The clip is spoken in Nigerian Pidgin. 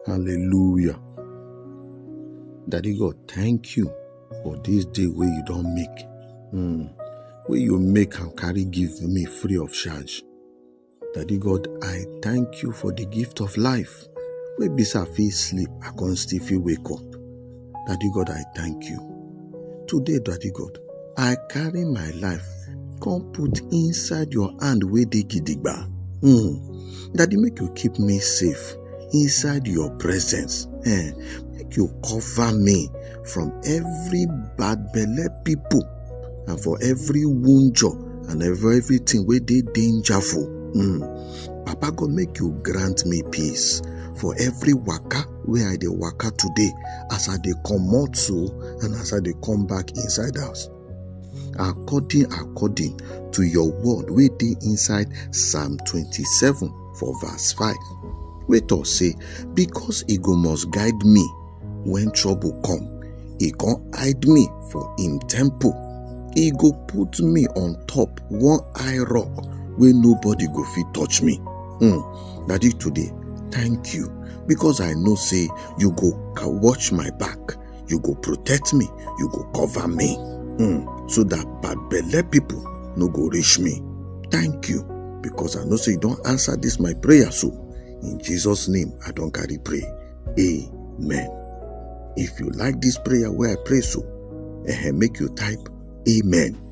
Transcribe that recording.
Hallelujah. Daddy God, thank you for this day where you don't make. Mm. Where you make and carry give me free of charge. Daddy God, I thank you for the gift of life. Wey be say I fit sleep, I con still fit wake up. Daddy God, I thank you. Today, Daddy God, I carry my life come put inside your hand wey dey gidigba. Mm. Daddy, make you keep me safe inside your presence. Eh, make you cover me from every bad belle people and for every wunjo and every everything wey dey dangerful. Mm. Papa God, make you grant me peace for every waka wey i dey waka today as i dey comot so and as i dey come back inside house according according to your word wey dey inside psalm 27 for verse 5 wey talk say because e go must guide me when trouble come e con hide me for im temple e go put me on top one high rock wey nobody go fit touch me hmm Daddy, today, thank you because I know say you go watch my back, you go protect me, you go cover me, mm, so that bad belly people no go reach me. Thank you because I know say you don't answer this my prayer. So in Jesus' name, I don't carry pray. Amen. If you like this prayer where I pray so, eh, make you type Amen.